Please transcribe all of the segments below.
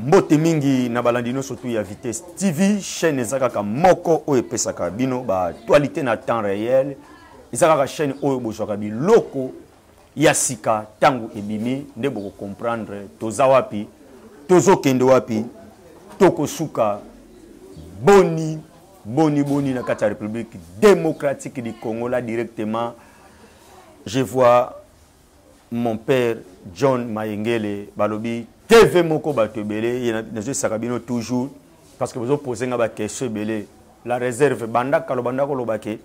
mbote mingi na balandi nyonso tu ya vitesse tv chaîne eza kaka moko oyo epesaka bino baactualité na temps réel eza kaka chaîne oyo bozwaka biloko ya sika ntango ebimi nde bokocomprendre toza wapi tozokende wapi tokosuka boni boni boni na kati ya république démocratique du congo la directement je vois mon père john mayengele balobi tv moko bato ebele ye nazoyisaka bino toujours parce que bozopose nga baquestion ebele la réserve banda kalo banda koloba ke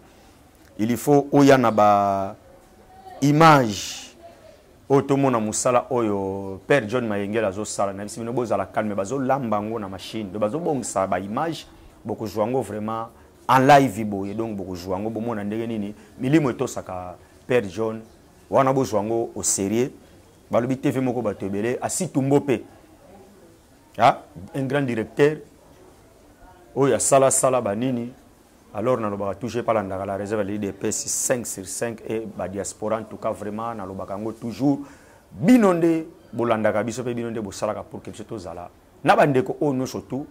il faut oya na ba image oyo tomona mosala oyo père john mayengele azosala na bisi bino bozala calme bazolamba yango na machine do bazobongisa baimage bokozwa yango vraiment en live boye donc bokozwa yango bomona ndenge nini milimo etosaka père john wana bozwa yango au sérieux balobi tv moko bato ebele asitumbo mpe un grand directeur oyo asalasala banini alors nalobaka toujours epa landaka la réserve ya lidps 5 sur 5 e badiaspora en tout cas vraiment nalobaka yango toujours bino nde bolandaka biso mpe bino nde bosalaka pour ke biso tozala na bandeko oyo nyonso tout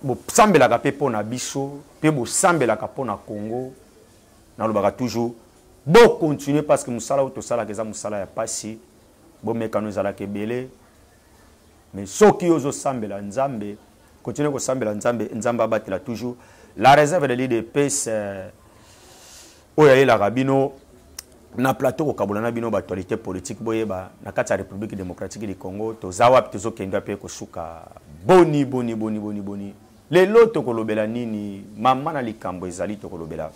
bosambelaka mpe mpo na biso mpe bosambelaka mpo na congo nalobaka toujours bo continuer parce que mosala oyo tosalaka eza mosala ya mpasi bomekano ezalaka ebele mais soki yo ozosambela nzambe continue kosambela nzambe nzambe abatela toujours la réserve de l'idps euh, oyo ayelaka bino na plateau kokabola na bino baactualité politique boyeba na kati ya république démocratique du congo toza wapi tozokenda mpe kosuka boni boni boni boni boni Lelo tokolobela nini mama na likambo ezali tokolobela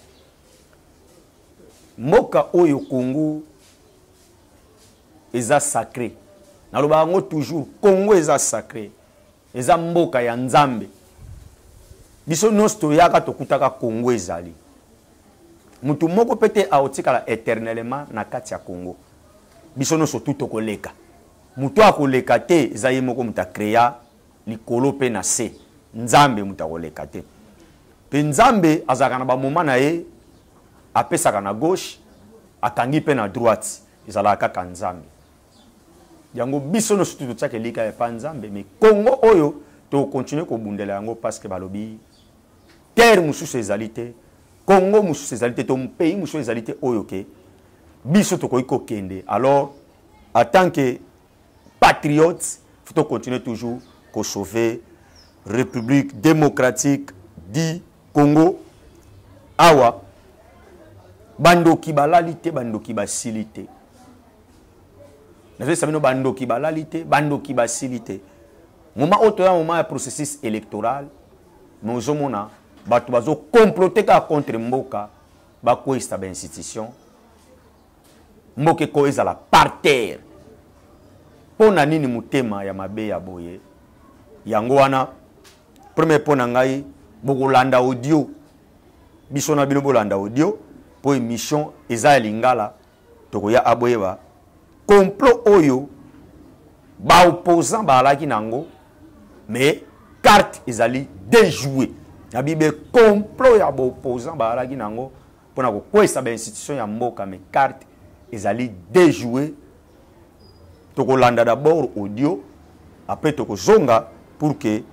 mboka oyo Congo eza sacré nalobaka yango toujours Congo eza sacré eza mboka ya Nzambe biso nyonso toyaka tokutaka Congo ezali motu moko mpe te aotikala éternellement na kati ya Congo biso nyonso tu tokoleka motu akoleka te eza ye moko moto akrea likolo mpe na se nzambe moto akoleka te mpe nzambe azalaka na bamoma na ye apesaka na gauche akangi mpe na droite ezalaka kaka nzambe yango biso nyonso tu totiaka elika ya pa nzambe me kongo oyo tokontinue kobundela yango parceke balobi terre mosusu ezali te kongo mosusu ezali te to pays mosusu ezali te oyo ke biso tokoki kokende alors atant ke patriotes faut continuer toujours ko sauver République démocratique du Congo awa bandoki balali te bandoki basili te nazolisa bino bandoki balali te bandoki basili te moma oyo toya moma ya processus électoral me ozomona bato bazokomplote kaka contre mboka bakweyisa bainstitution mboka ekoya ezala par terre mpo na nini motema ya mabe ya boye yango wana premier mpo na ngai bokolanda audio biso na bino bolanda audio mpo émission eza ya lingala tokoya aboyeba complot oyo baopposant baalaki na yango mais carte ezali déjoue na bibe complot ya baopposant baalaki na yango mpo na kokweisa bainstitution ya mboka me carte ezali dejoue tokolanda d'abord audio après tokozonga pour que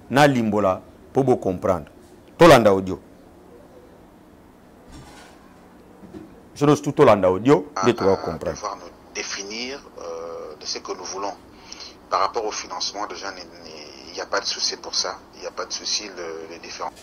nalimbola mpo bocomprendre tolanda audio biso nyonso tu tolanda audio nde tokoka comprendre définir euh, de ce que nous voulons par rapport au financement déjà il n'y a pas de souci pour ça il n'y a pas de souci le, les différents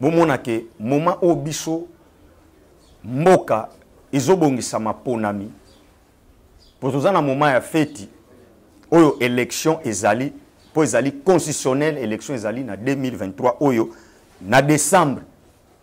bomona ke moma oyo biso mboka ezobongisa maponami mpo toza na moma ya feti oyo élection ezali mpo ezali constitutionnel élection ezali na 2023 oyo na décembre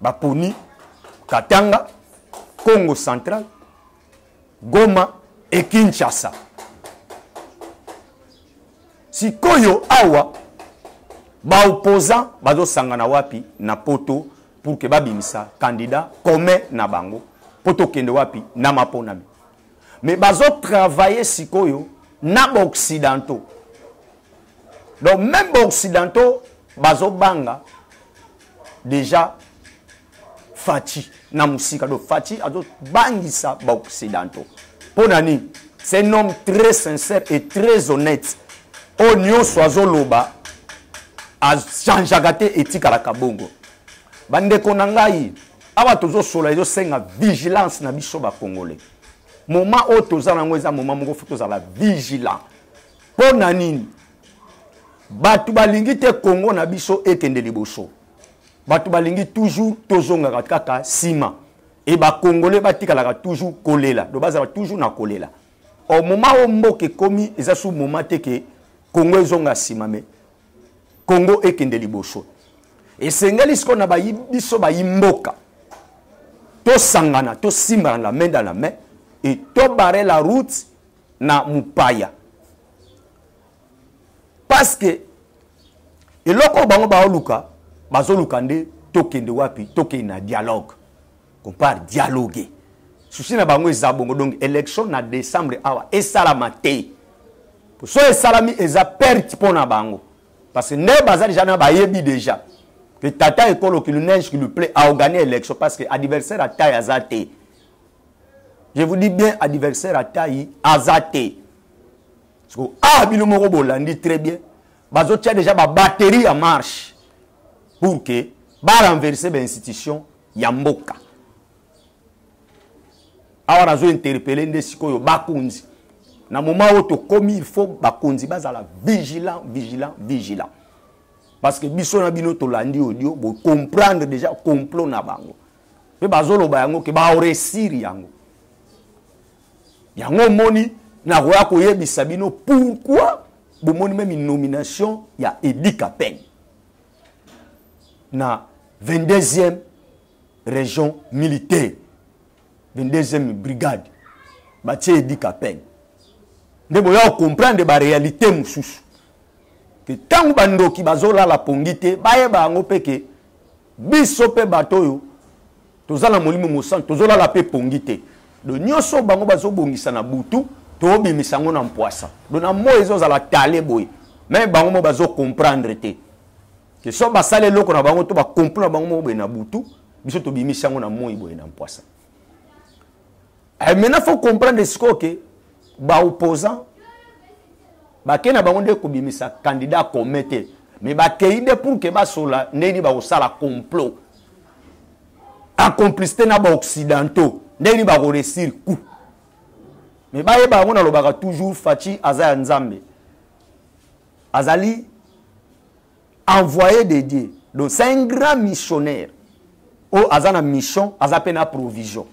baponi katanga congo central goma e kinshasa sikoyo awa baopposant bazosangana wapi na poto pour ke babimisa candidat commun na bango mpo tokende wapi na maponami mais bazotravaille sikoyo na baoccidentaux donc même baoccidentaux bazobanga déjà faci na mosika donc faci azobangisa baoccidentaux mpo na nini c'est un homme très sincère et très honnête oyo nyonso azoloba achangeaka te etikalaka bongo bandeko na ngai awa tozosola ezosenga vigilance na biso bacongolais moma oyo toza na yango eza moma moko fo tozala vigilant mpo na nini bato balingi te kongo na biso ekende liboso bato balingi toujours tozongaka kaka nsima e bakongole batikalaka toujours kolela do bazala toujours na kolela o moma oyo mboka ekomi eza su moma te ke kongo ezonga nsima me kongo ekende liboso esengeli sikoyo na bayi biso bayi mboka tosangana tosimbana la main dans la main et tobare la route na mopaya parce que eloko oyo bango baoluka bazoluka nde tokende wapi tokende na dialogue compare dialogue susi na bango eza bongo donc élection na décembre awa esalama te so esalami eza perte mpo na bango parce que nde baza deja na bayebi deja que tata ekolo ki lunege ki luple aorganie élection parce que adversaire ata aza te je vous dis bien adversaire atai aza te siko a ah, bino moko bolandi très bien bazotya déjà babatterie ya marche pour que barenverse bainstitution ya mboka awa nazo interpele nde sikoyo bakonzi na moment oyo tokomi il faut bakonzi bazala vigilant vigilant vigilant parce que biso na bino tolandi audio bocomprendre déjà complot na bango mpe bazoloba yango ke baoresiri yango yango omoni nakoya koyebisa bino pourkui bomoni meme nomination ya edi kapeng na 22e région militaire 22e brigade batie edi kapeng nde boya kocomprendre baréalité mosusu ke ntango bandoki bazolala pongi te bayeba yango mpe ke biso mpe bato oyo toza na molimo mosantu tozolala mpe pongi te do nyonso bango bazobongisa na butu tobimisa yango na mpwasa do na moi ezozala tale boye me bango mo bazokomprendre te ke so basala eloko na bango to bakomplo na bango moko boye na butu biso tobimisi yango na moi boye na mpwasa Eh, maintenant faut comprendre sikoyo ke baopposant bakei na bango nde kobimisa candidat commun te mais bakei nde pour ke basola ndenge nini bakosala complot acomplicité na baoccidentaux ndenge nini bakoresir coup mais bayeba yango nalobaka toujours faci aza ya nzambe azali envoyé de dieu donc c'est un grand missionnaire oyo aza na mission aza mpe na provision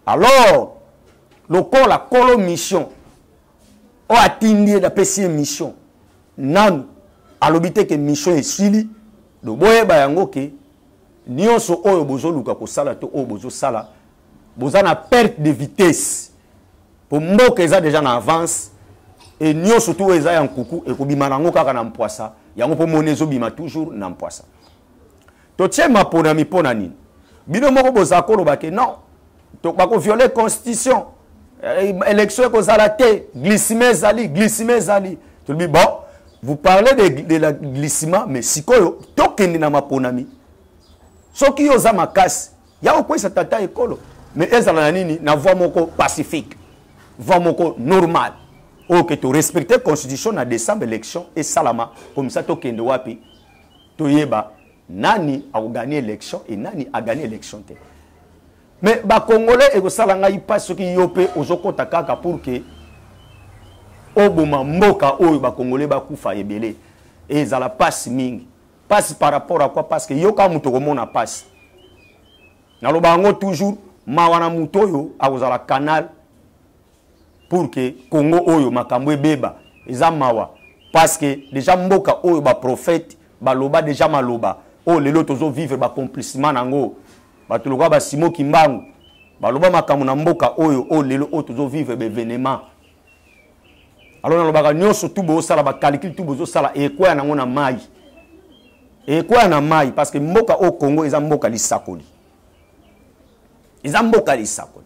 alors lokola kolo mission oyo atindi ye napesi ye mission nanu alobi te ke mission esili do boyeba yango ke nyonso oyo bozoluka kosala to oyo bozosala boza na perte de vitesse po mboka eza deja na avance e nyonso tu oyo eza ya nkuku ekobima nango kaka na mpwasa yango mpo moni ezobima toujours na mpwasa totie maponami mpo na nini bino moko bozala koloba ke non bakoviole constitution eh, élection ekozala te glissima ezali glissima ezali tolobi bon vous parlez de, de la glissima mais sikoyo tokende na maponami soki yo oza makasi ya kokweyisa tata ekolo mais ezala na nini na voi moko pacifique voi moko normal oyo ke torespecte constitution na décembre élection esalama komisa tokende wapi toyeba nani akogani élection et nani agani élection te mais bakongolais ekosala ngai mpasi soki yo mpe ozokɔta kaka pour ke oboma mboka oyo bakongolais bakufa ebele ezala mpasi mingi mpasi par rapport à quoi parce que yo kaka moto okomona mpasi naloba yango toujours mawa na moto oyo akozala canal pour que congo oyo makambo ebeba eza mawa parce que déjà mboka oyo baprofete baloba déjà maloba oyo oh, lelo tozovivre bacomplissement na yango bato lokola basimo kimbangu baloba makambo na mboka oyo oyo oh, lelo oyo oh, tozovivre baevenement alo nalobaka nyonso tu bozosala bacalikile tu bozosala ekwaya nango na mai ekwaya na mai parce que mboka oyo congo eza mboka lisakoli eza mboka lisakoli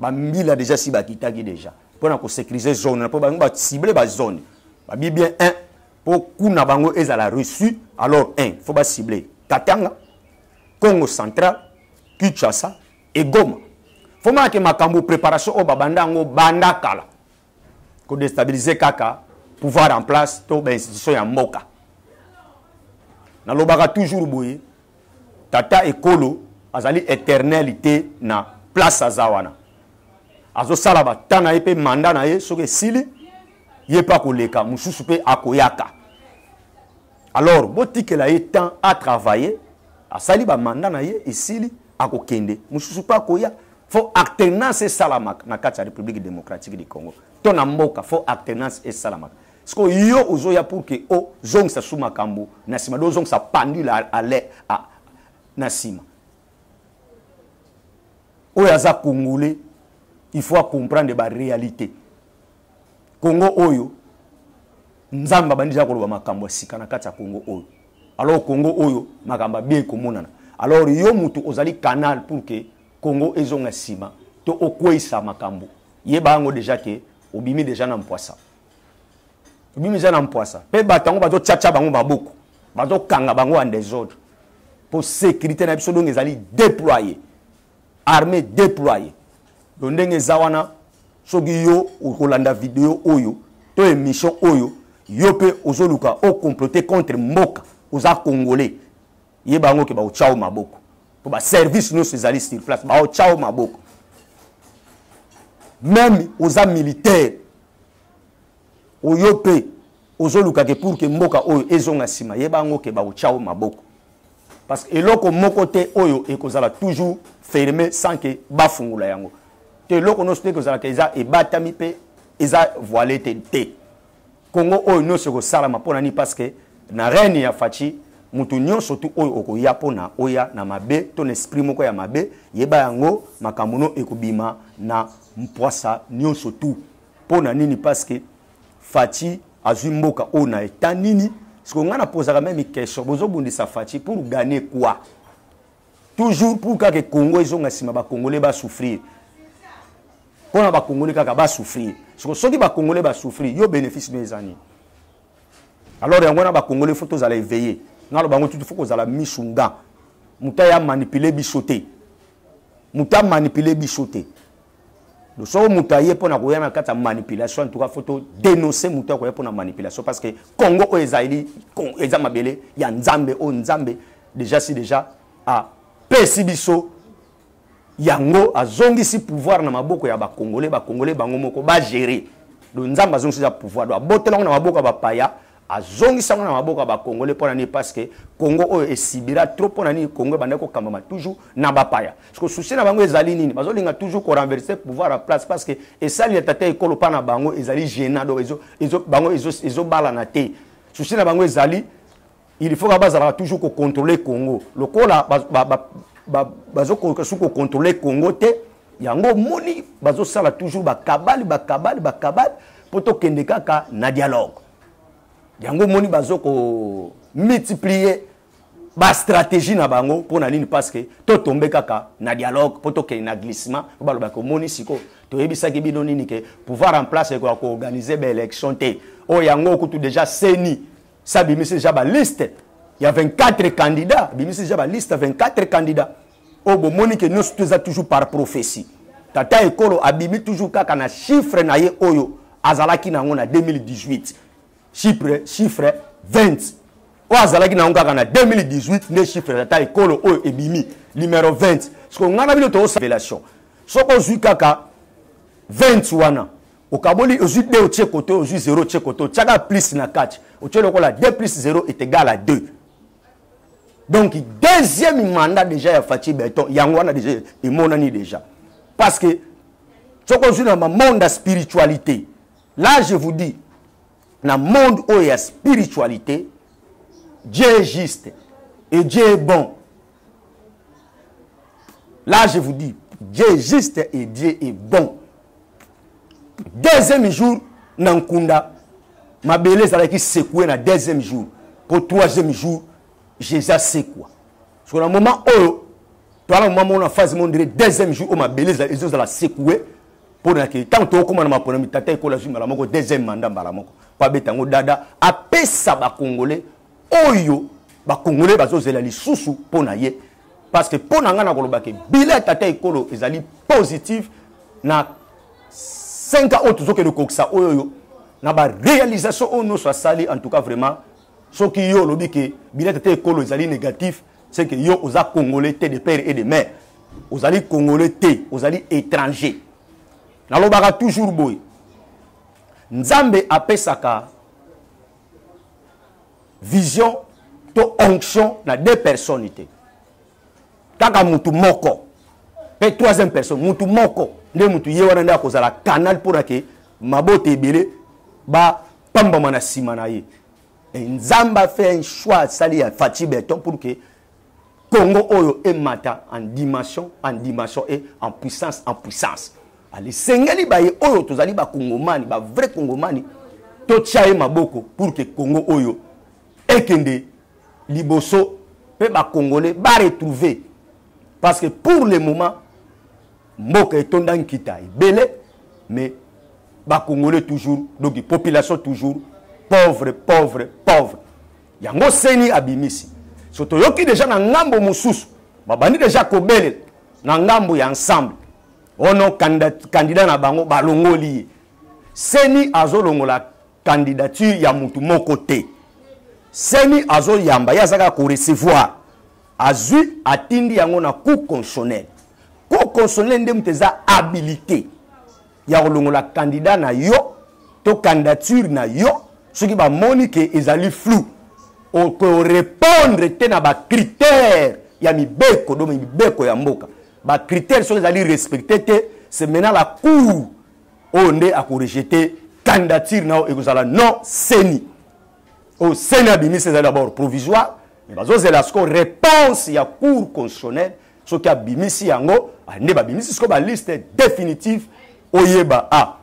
ba mbila déjà si bakitaki déjà mpo na kosécuriser zone na mpo bango bacible bazone babi bien un mpo kuna bango ezala reçu alors un fo bacible katanga congo central kinshasa egoma fo manake makambo préparation oyo babanda yango banda kala ko destabiliser kaka pouvoir en place to ba institution ya mboka nalobaka toujours boye tata ekolo azali éternel te na place aza wana azosala bata na ye mpe manda na ye soki esili ye mpe akoleka mosusu mpe akoyaka alors botikela ye temps atravaille asali bamanda na ye esili akokende mosusu mpe akoya fo alternance esalamaka na kati ya république démocratique du congo to na mboka fo alternance esalamaka siko yo ozoya pour ke ozongisa su makambo na nsima do ozongisa pendule ale na nsima oyo aza congolais il faut acomprendre baréalité congo oyo nzambe abandi za koloba makambo ya sika na kati ya congo oyo alors congo oyo makambo abiye komonana alors yo motu ozali canal pour ke Congo ezonga sima to okweisa makambo. Yeba yango deja ke obimi deja na mpwasa. Obimi deja na mpwasa. Pe bato yango bazo tchatcha bango maboko. Bazo kanga bango en desordre. Po sécurité na biso donc ezali déployer. Armée déployer. Donc ndenge eza wana soki yo okolanda video oyo to émission oyo yo pe ozoluka o comploter contre mboka oza congolais yeba yango ke baotyao maboko mpo baservice nyonso ezali sur place baotyao maboko meme oza militaire oyo mpe ozoluka ke pour ke mboka oyo ezonga nsima yeba yango ke baotyao maboko parce que eloko moko te oyo ekozala toujours ferme sans ke bafungola yango te eloko nyonso te ekozalaka eza ebatami mpe eza voile te te Congo oyo nionso ekosalama pona ni parce que na règne ya Fatshi mutu nionso tu oyo okoya pona oya na mabe to na esprit moko ya mabe yeba yango makambo no ekobima na mpwasa nionso tu pona nini parce que Fatshi azwi mboka oyo na etat nini siko ngai napozaka meme question bozobundisa Fatshi pour gagner quoi toujours pour kaka congo ezonga nsima bakongole basouffrir mpo na bakongole kaka basouffrir soko soki bakongole basouffrir yo bénéfice no eza nini alors yango wana bakongole fo tozala éveillé nalo bango tutu fo kozala misu nga moto aya manipule biso te moto amanipule biso te soko moto aye mpo na koya na kati ya manipulation en tout cas fo to denonce moto akoya mpo na manipulation parce que congo oyo ezali eza mabele ya nzambe oyo nzambe déjà si déjà apesi biso yango azongisi pouvoir na maboko ya bacongolais bacongolais bango moko bagere do nzambe azongisi eza pouvoir do abotelango na maboko ya bapaya azongisa yango na maboko ya bacongolais mpo na nini parce que congo oyo esibira trop mpo na nini congo ebandaki kokambama toujours na bapaya siko susi na bango ezali nini bazolinga toujours korenverse pouvoir ya place parce que esali ya tata ekolo mpa na bango ezali gena donc ezo, ezo, bango ezobalana ezo te susi na bango ezali il faut bazalaka toujours kocontrole congo lokola bazokoka ba, ba, ba, su kocontrole congo te yango omoni bazosala toujours bakabale bakabale bakabale mpo tokende kaka na dialogue yango omoni bazo ko multiplier bastratégie na bango mpo na nini parce que totombe kaka na dialogue mpo tokende na glissement mpo balobaki omoni sikoyo toyebisaki bino nini ke pouvoir en place ekoya koorganize baélection te oyo yango kutu déjà seni sabimisi déjà baliste ya 24 candidat abimisi déjà baliste ya 24 candidat oyo bomoni ke nyonso to eza toujours par prophetie tata ekolo abimi toujours kaka na chiffre na ye oyo azalaki na yango na 2018 chiffre chiffre 20 oyo azalaki na yango kaka na 2018 nde chiffre tata ekolo oyo ebimi numero 20 sikoyo ngai na bino toosavelation soki ozwi kaka 20 wana okaboli ozwi 2 otie kote ozwi 0 otie kote otiaka plus na kati otie lokola 2 plus 0 est égal à 2 donc deuxième mandat déjà ya faci beton yango wana déjà emonani déjà parce que soki ozwi na bamonde ya spiritualité là je vous dis na monde oyo ya spiritualité dieu est juste et dieu est bon là je vous dis dieu est juste et dieu est bon deuxième jour na nkunda mabele ezalaki sekoue na deuxième jour mpo troisième jour jésus asekwa soko na moment oyo toa na moment moko na phase mo ndire deuxième jour oyo mabele ezozala sekoue mpo na ke ntango tokokóma na maponami tata ekola zwi mbala moko deuxième mandat mbala moko mpo abeta yango dada apesa bakongole oyo bakongole bazozela lisusu mpo na ye parce que mpo na ngai nakoloba ke bila ya tata ekolo ezali positive na 5 ans oyo tozokende kokokisa oyo oyo na barealisation oyo nyonso asali en tout cas vraiment soki yo olobi ke bila ya tata ekolo ezali négatif c'est que yo oza congolais te de père et de mère ozali congolais te ozali étranger nalobaka toujours boye nzambe apesaka vision to onction na deux personnes te kaka mutu moko pe troisième personne mutu moko nde mutu ye wana nde akozala canal mpo na ke mabota ebele bapambama na nsima na ye nzambe afe un choix asali ya faci beton pour ke Congo oyo emata en dimension en dimension et en puissance en puissance alisengeli ah, baye oyo tozali bakongomani bavrai kongomani totya ye maboko pour ke congo oyo ekende liboso mpe bakongole baretrouve parce que pour le moment mboka etonda nkita ebele mais bakongole toujours donc population toujours pauvre pauvre pauvre yango seni abimisi so toyoki deja na ngambo mosusu babandi deja kobelela na ngambo ya ensemble ono kandida na bango balongoli ye seni azolongola candidature ya motu moko te seni azoyamba ye azalaka korecevoir azwi atindi yango na cour constitutionnel cour constitutionnel nde moto eza habilité ya kolongola candidat na yo to candidature na yo soki bamoni ke ezali flou okorepondre te na bacritère ya mibeko do mibeko ya mboka bacritère soki ezali respecte te se maintenant la cour oyo nde akorejete candidature na yo ekozala non seni oyo seni abimisi ezali d'abord provisoire me bazozela sikoyo réponse ya cour constitutionnelle soki abimisi yango ah, nde babimisi sikoyo baliste définitive oyeba a ah,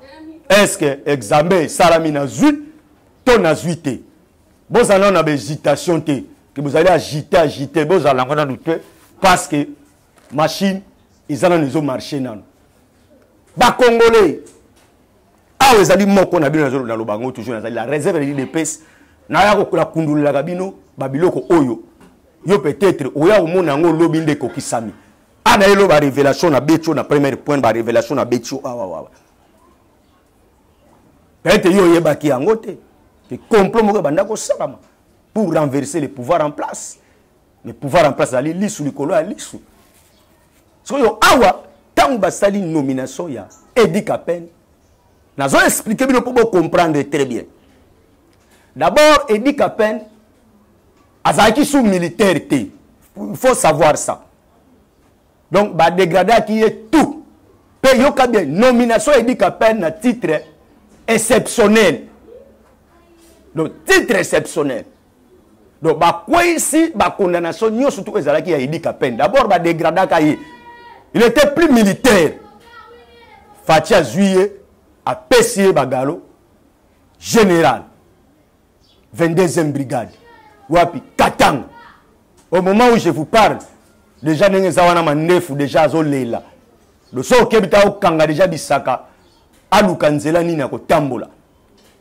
estce examen esalami nazwi to nazwi te bozala nano na bahésitation te ke bozali agite agite bozala yango nano te parce que machine eza nano ezomarche nano bacongolais awa ezali moko na bino naloba yango toujours nazali la réserve de l'idps naya nakundolelaka bino babiloko oyo yo peut-être oya komona yango olobi nde ekokisami a na yelo barévélation na betio na première point barévélation na betio awawawa peut-être yo oyebaki yango te ke complot moko ebanda kosalama pour renverser le pouvoir en place le pouvoir en place ezali lisu likolo ya lisu sikoyo awa ntango basali nomination ya edi kapene nazo explike bino mpo bocomprendre très bien d'abord edi kapene azalaki sous militaire te il faut savoir ça donc badegradaki ye tout mpe yoka bien nomination ya edi kapene na titre exceptionnel donc titre exceptionnel donc bakweisi bacondamnation nyonso tu ezalaki ya edi kapene d'abord badegradaka ye il était plus militaire faci azwi ye apesi ye bagalo général 22e brigade wapi katanga au moment où je vous parle déjà ndenge eza wana mandefu déjà azolela loso okebi ta okanga déjà bisaka aluka nzela nini akotambola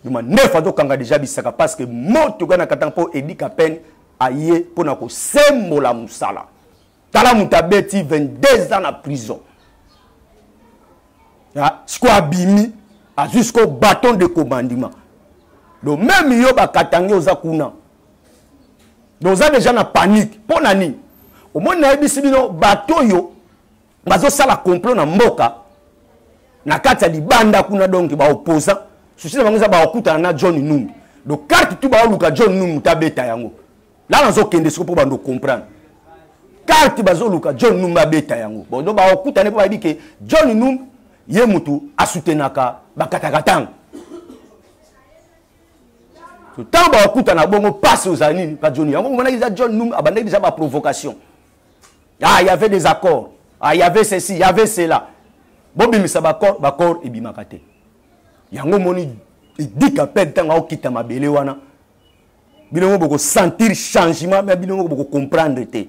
Yuma nefa to kanga deja bisaka parce que moto gana katanga po Eddie Kapen aye pona ko sembola musala. Tala mutabeti 22 ans na prison. Ya siko abimi azui siko bâton de commandement. Donc même yo ba katanga oza kuna. Donc oza deja na panique. Pona nini? omoni nayebisi bino bato oyo bazosala complot na mboka na kati ya libanda kuna donc baopposant susi na bango eza bakutana na john numbi donc carte tu baoluka john numbi moto abeta yango la nazokende siko mpo bando comprendre carte bazoluka john numbi abeta yango bon donc bakutane mpo bayebi ke john numbi ye motu asutenaka bakataka ntango ntango bakutana bongo mpasi ozala nini ka john yango omonaki eza john numbi abandaki deja baprovocation ah il y avait des accords ah il y avait ceci il y avait cela bobimisa baccord baccord ebimaka te yango omoni edika mpe ntango akokita mabele wana bino ngo bokosentir changement me bino ngo bokocomprendre te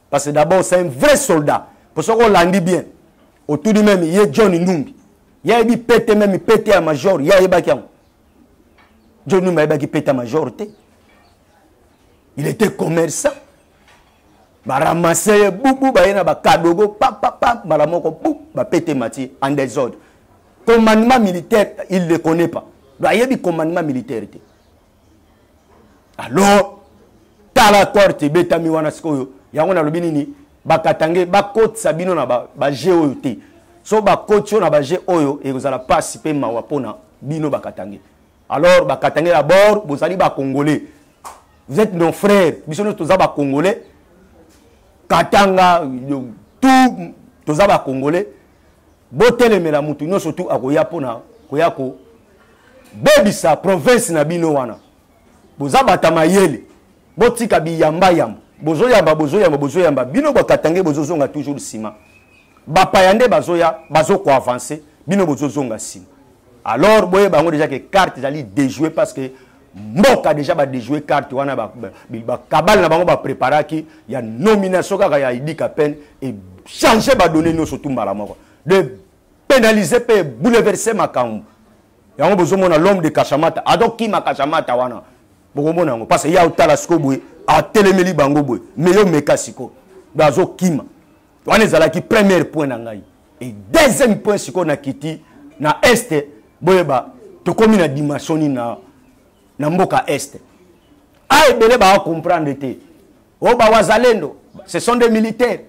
parce que d'abord c'est un vrai soldat mpo soki olandi bien otuni meme ye john numbi ye ayebi pete meme pete ya major ye ayebaki yango john numbi ayebaki pete ya major te il était commerçant baramase ye bubu baye na bakadogo papapa mbala moko bu bapete mati en desordre commandement militaire il ne connaît pas do ayebi commandement militaire te alors tala corte ebetami wana sikoyo yango nalobi nini bakatange bakotisa bino na baje ba oyo te so bakoti yo na baje oyo ekozala mpasi mpe mawa mpona bino bakatange alors ba katangais ya bord bozali ba congolais vous êtes nos frères biso nyonso toza ba congolais katanga tout toza ba congolais botelemela motu nyonso tu akoya mpona koya kobebisa province na bino wana boza bata mayele botika biyambayamba bozoyamba bozoyamba bozoyamba bino bakatange bozozonga toujours nsima bapaya nde bazoya bazokoavanse bino bozozonga nsima alors boyeba yango déjà ke carte ezali dejoue parce que mboka déjà badejoue carte wana bakabale na bango bapreparaki ya nomination kaka ya idi kapene echange badonne nyonso tu mbala moko de pénalise mpe bouleverse makambo yango bozomona l'homme de kashamata adokima kashamata wana bokomona yango parce ya otala siko boye atelemeli bango boye me yo meka siko azokima wana ezalaki première point na ngai et deuxième point sikoyo na kiti na est boyeba tokomi na dimension nini na, na mboka est a ah, ebele bawa comprendre te o oh, bawazalendo ce sont des militaires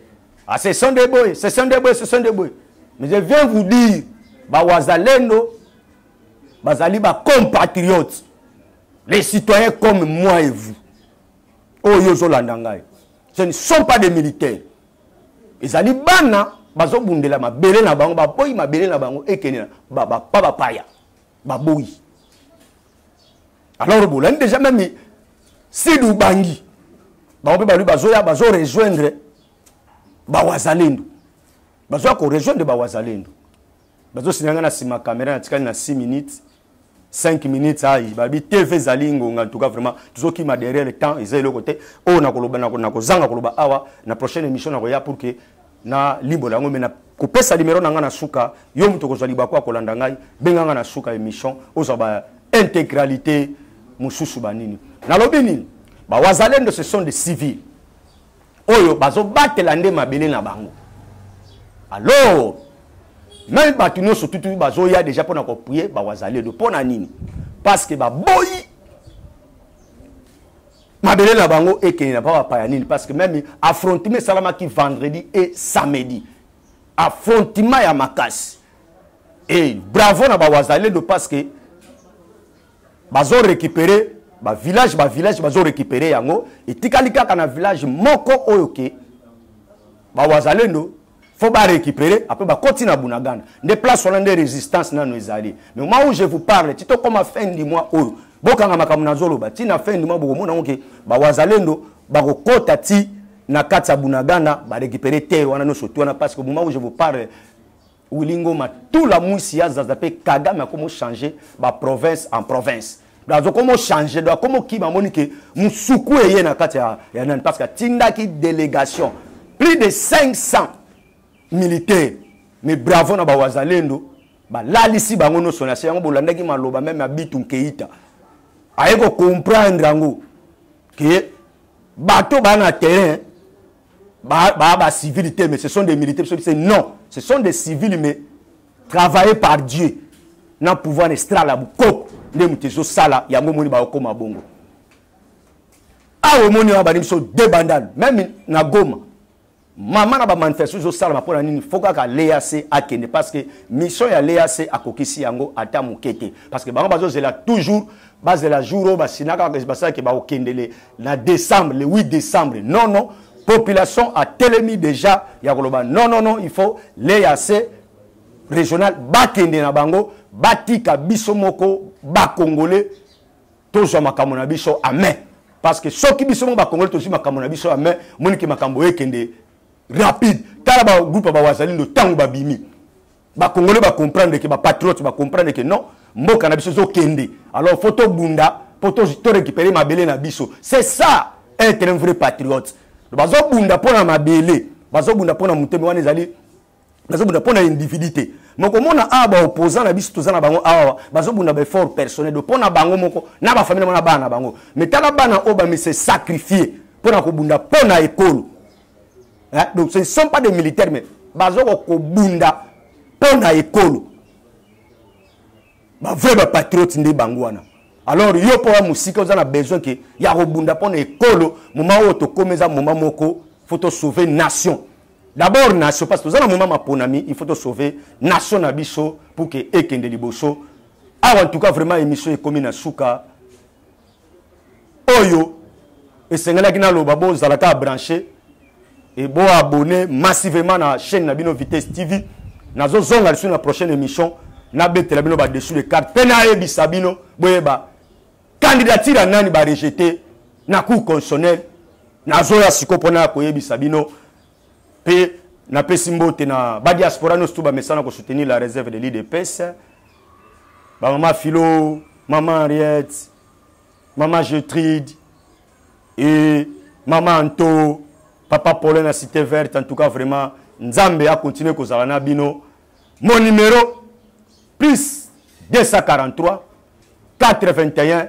ah, ce sont des boye ce sont des boye ce sont des boye mais je viens vous dire bawazalendo bazali bacompatriotes les citoyens comme moi et vous oyo ozolanda ngai ce ne sont pas des militaires ezali bana bazobundela mabele na bango baboyi mabele na bango ekende na bapa bapaya baboyi alors bolandi déjà meme sidi ubangi bango mpe balobi bazoya bazo rejoindre bawazalendo bazoya korejoindre bawazalendo bazosina ngai na nsima kamera natikali na 6 minutes 5 minutes ayi ah, babi tv ezali ngonga ntuka vraiment tozokima derrière le temps eza eloko te oyo oh, nakoloba nakozanga koloba awa na prochaine émission nakoya pour que na limbola yango mai kopesa limero na ngai na suka yo moto okozwa libaku ya kolanda ngai benga ngai na suka émission ozwa ba intégralité mosusu banini nalobi nini bawazalendo ce sont des civils oyo bazobatela nde mabele na bango alors meme bato nyonso tutu bazoya deja mpona koprie bawazaledo mpo na nini parce que baboyi mabele na bango ekende na papa paya nini parce que meme affrontement esalamaki vendredi et samedi affrontement ya makasi e bravo na bawazaledo parce que bazo récupérer ba village ba village bazo récupérer yango etikali kaka na village moko oyo ke ba wazalendo faut ba récupérer après ba koti na bunagana nde place wana nde résistance nano ezali mais au moment où je vous parle ti tokoma fin du mois oyo bokanga makambo nazoloba ti na fin du mois bokomona yango ke ba wazalendo bakokota ti na kati ya bunagana ba récupérer terre wana nyonso ti wana parce que au moment où je vous parle Willy Ngoma tout la muisi ya zaza pe Kagame akomo changer ba province en province azo komo changer donc akomo kima moni ke musuku eye na kati ya, ya nani parce que atindaki délégation plus de 500 militaires mais bravo na bawazalendo balalisi bango nyonso na se yango bolandaki maloba meme ya bitu nkeita aye kocomprendre yango ke bato baa na terrain ba ba, ba civil te mais ce sont des militaires biso c'est non ce sont des civils mais travaillés par Dieu na pouvoir estral ya bukoko nde moto ezosala yango omoni baokoma bongo awa omoni wana bani biso de bandal meme na goma mama na bamanifestation ezosalama mpo na nini fo kaka leac akende parce que mission ya leac akokisi yango ata moke te parce que bango bazozela toujours bazela jour oyo basinaka basalaki bakokendele na décembre le 8 décembre non non population atelemi déjà ya koloba non non non il faut l'eac régional bakende na bango batika biso moko bakongole tozwa makambo na biso amen parce que soki biso moko bakongole tozwi makambo na biso amen monike makambo ekende rapide tala bagroupe ya bawazalindo ntango babimi ba congolais ba comprendre que ba patriotes ba comprendre que non mboka na biso zo kende alors faut to bunda pour to to récupérer mabele na biso c'est ça être un vrai patriote bazo bunda pona mabele bazo bunda pona muteme wana ezali bazo bunda pona individu te moko mona awa ba opposant na biso toza na bango awa bazo bunda ba effort personnel de pona bango moko na ba famille na bana bango mais tala bana oyo ba mi se sacrifier pona ko bunda pona ekolo hein? donc ce ne sont pas des militaires mais baza kokobunda mpo na ekolo bavrai bapatriote nde bango wana alors yo mpo ya mosika oza na besoin ke ya kobunda mpo na ekolo moma oyo tokomi eza moma moko faut tosauve nation d'abord nation parce toza na moma maponami il faut tosauve nation na biso pour ke ekende liboso awa en tout cas vraiment émission ekomi na suka oyo esengelaki naloba bozala kaka branche e boabone massivement na chaîne na bino vitesse tv nazozonga lisusu na prochaine émission nabetela bino badessus de carte mpe nayebisa bino boyeba candidature ya nani barejete na cour constitutionnel nazoya sikoyo mpo na koyebisa bino mpe napesi mbote na badiaspora nyonso tu bamesana kosoutenir la réserve de l'idps bamama philo mama henriette mama getride e mama anto papa paulin na cité verte en tout cas vraiment nzambe akontinue kozala na bino mon numéro plus 243 81